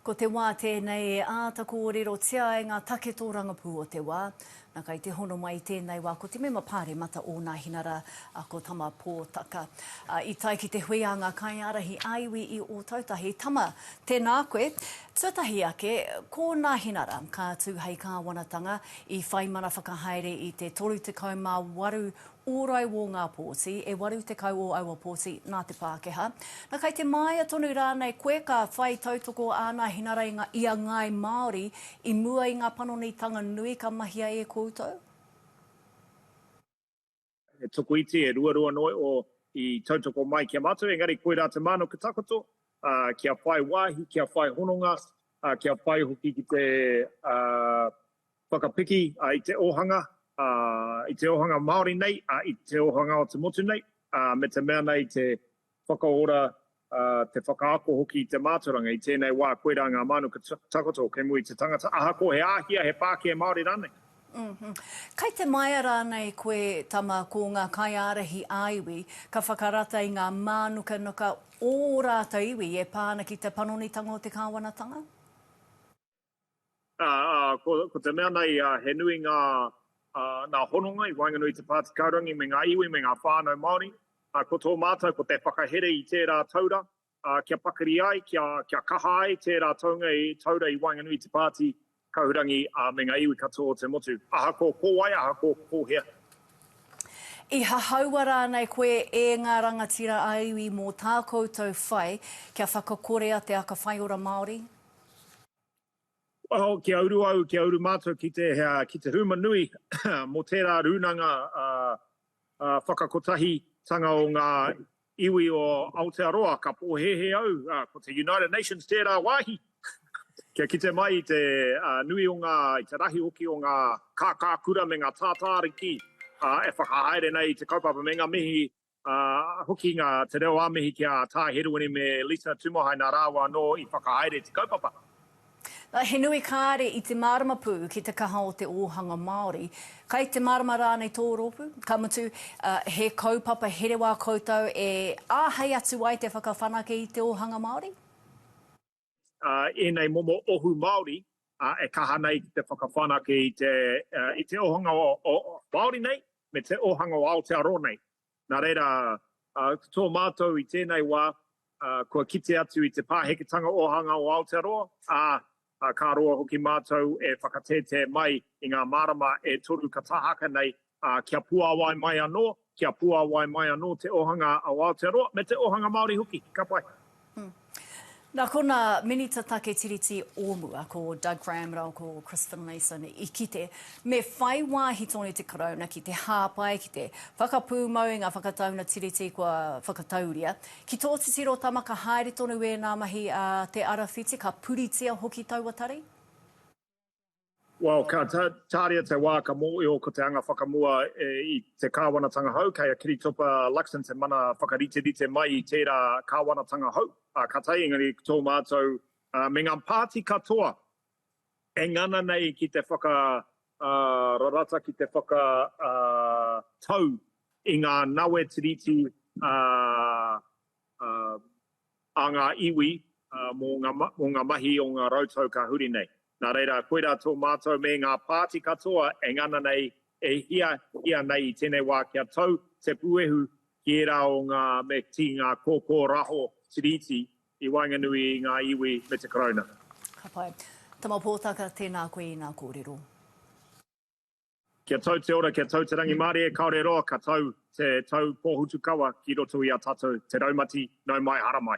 Ko te wā tēnei e āta kōrerotia ai ngā take tōrangapū o te wā. Na kai te hono mai i tēnei wā ko te mema pāremata o Nāhinara a ko Tama Pōtaka. A, i tae ki te hui a ngā kaiārahi ā-iwi i Ōtautahi, Tama, tēnā koe. Tuatahi ake, ko Nāhinara ka tū hei kāwanatanga, i whai mana whakahaere i te 38 ōrai wō ngā pōti, e 80 o aua pōti nā te Pākehā. Na, kai te māia tonu rānei koe ka whai tautoko āna hinarainga i a ngāi Māori i mua i ngā panonitanga nui ka mahia e koutou? He tokoiti, he ruarua noa iho i tautoko mai ki a mātou, engari koirā te māno ki takoto, kia whai wāhi, kia whai hononga, kia whai hoki ki te Whakapiki i te ōhanga, i te ōhanga Māori nei, i te ōhanga o te motu nei, me te mea nei te whakaora, te whakaako hoki i te mātauranga, i tēnei wā koirā ngā mānuka takoto kei mua i te tangata, ahakoa he āhia, he pākē Māori rānei. Kei te maea rānei koe, tama, ko ngā kaiārahi ā-iwi ka whakarata i ngā mānukanuka o ō rātou iwi e pā ana ki te panonitanga o te kāwanatanga? Ko te mea nei, he nui ngā hononga i waenganui i te Pātikāurangi me ngā iwi me ngā whānau Māori. Ko tō mātou, ko te whakahere i tērā taura, kia pakari ai, kia kaha ai tērā taunga i taura i waenganui i te Pāti Kaurangi me ngā iwi katoa o te motu. Ahakoa ko wai, ahakoa ko hea. I hahaua rānei koe e ngā rangatira ā-iwi mō tā koutou whai kia whakakorea te aka whaiora Māori? Waho, kia uru au, kia uru mātou ki te, ki te huma nui mō tērā rūnanga whakakotahitanga o ngā iwi o Aotearoa. Ka pōhēhē au, ko te United Nations tērā wāhi, kia kite mai i te nui o ngā, i te rahi hoki o ngā kākākura me ngā tātāriki e whakahaere nei i te kaupapa me ngā mihi ā, hoki ngā te reo ā-mihi ki a Tā Heruini me Lisa Tumuhai nā rāua anō i whakahaere te kaupapa. He nui kāre i te mārama pū ki te kaha o te ōhanga Māori. Kai te mārama rānei tō rōpū? Ka mutu, he kaupapa here wā koutou e āhei atu ai te whakawhanake i te ōhanga Māori? ēnei momo ohu Māori e kaha nei ki te whakawhanake i te ohanga Māori nei me te ohanga o Aotearoa nei. Nā reira, ko tō mātou i tēnei wā, kua kite atu i te pāheketanga ohanga o Aotearoa, ā, ka roa hoki mātou e whakatētē mai i ngā marama e toru ka tāhaka nei ā, kia puāwai mai anō, kia puāwai mai anō te ōhanga o Aotearoa, me te ōhanga Māori hoki. Ka pai. Nā konā, Minita Take Tiriti o mua, ko Doug Graham rāua ko Chris Finlayson i kite, me whai wāhi tonu te Karauna ki te hāpai ki te whakapūmau i ngā whakataunga Tiriti kua whakatauria. Ki tō titiro, Tama, ka haere tonu ēnā mahi a Te Arawhiti, ka puritia hoki taua tari? Well, ka tāria te wā ka mōhio ko te anga whakamua i te kāwanatanga hou, kei a Kiritopa Luxon te mana whakariterite mai i tērā kāwanatanga hou. Ka taea engari tō mātou me ngā pāti katoa e ngana nei ki te whakararata, ki te whakatau i ngā nawe tiriti a ngā iwi mō ngā mahi o ngā rautau ka huri nei. Nā reira, koirā tō mātou me ngā pāti katoa e ngana nei, e hiahia nei i tēnei wā kia tau te puehu ki ērā o ngā meti, ngā kōkōraho tiriti i waenganui i ngā iwi me te Karauna. Ka pai. Tama Pōtaka, tēnā koe i nā kōrero. Kia tau te ora, kia tau te rangimārie, kāore roa ka tau te tau pōhutukawa ki roto i a tātou te raumati, nau mai, hara mai.